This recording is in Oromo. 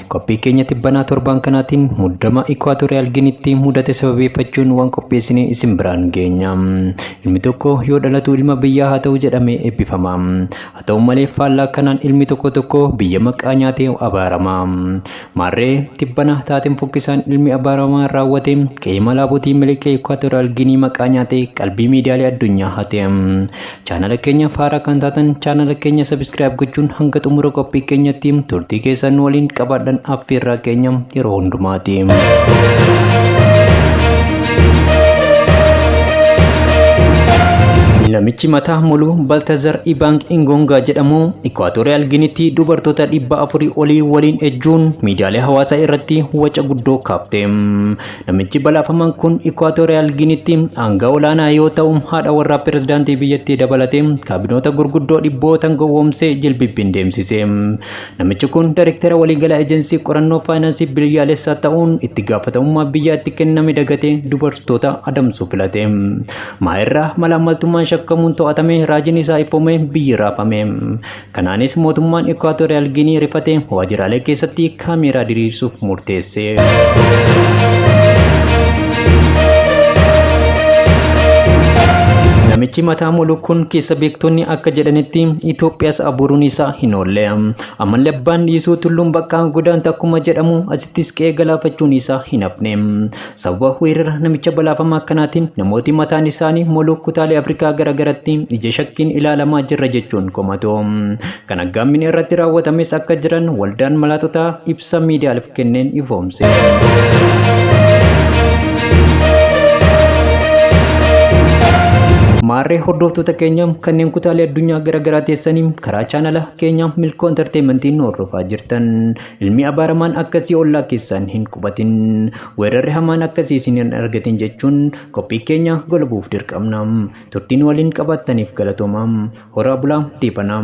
Qophii keenya tibbanaa torbaan kanaatiin muddama Ikwaatooriyaal Ginitti mudate sababeeffachuun waan qopheessine isin biraan geenya. Ilmi tokko yoo dhalatu ilma biyyaa haa ta'u jedhamee eebbifama. Haa ta'u malee faallaa kanaan ilmi tokko tokko biyya maqaa nyaatee abaarama. Maarree tibbana taateen fokkisaan ilmi abaaramaa raawwate qe'ee malaabotii miliqee Ikwaatooriyaal Ginii maqaa nyaatee qalbii miidiyaalee addunyaa hate. Chaanala keenya faaraa kan taatan chaanala keenya sabiskiraayib gochuun hanga xumura qophii keenyatti turtii keessan nu waliin qabaadhan affeerraa keenya yeroo hundumaati. Namichi mataa muluu Baltazar Ibaang Ingongaa jedhamu Ikwaatooriyaal Ginitti dubartoota dhibba afurii olii waliin ejjuun miidiyaalee hawaasaa irratti waca guddoo kaafte. Namichi balaafamaan kun Ikwaatooriyaal Giniitti aangaa olaanaa yoo ta'u, haadha warraa pirezidaantii biyyattii dabalatee kaabinoota gurguddoo dhibbootan gowwoomsee jilbibbiin deemsise. Namichi kun daayirektara waliigalaa ejensii qorannoo faayinaansii biyyaalessaa ta'uun itti gaafatamummaa biyyaa itti kenname dagatee dubartoota adamsuu filate. Maayirraa malaammaltummaan shakkamuun to'atame raajiin isaa ifoomee biyyi raafame. Kanaanis mootummaan Ikwaatooriyaal Giinii rifatee waajjiraalee keessatti kaameeraa diriirsuuf murteesse. Namichi mataa molu kun keessa beektonni akka jedhanitti Itoophiyaas abuuruun isaa hin oolle. Ammallee abbaan dhiisuu tulluun bakka godaanta akkuma jedhamu asittis qe'ee galaafachuun isaa hin hafne. Sababa weerara namicha balaafamaa akkanaatiin namooti mataan isaanii moluu kutaalee Afrikaa garagaratti ija shakkiin ilaalamaa jirra jechuun komatu. Kan aggaammin irratti raawwatames akka jiran waldaan malaaxotaa ibsa miidiyaaleef kenneen ifoomse. Maarree hordoftoota keenya kanneen kutaalee addunyaa garaagaraa teessanii karaa chaanala keenya Milkoo Entertainmentiin hordofaa jirtan Ilmi abaaramaan akkasii ollaa keessan hin qubatin, weerarri hamaan akkasii isin hin argatin jechuun qophii keenya golabuuf dirqamna. Turtiin waliin qabaattaniif galatooma. Horaa bulaa deebanaa.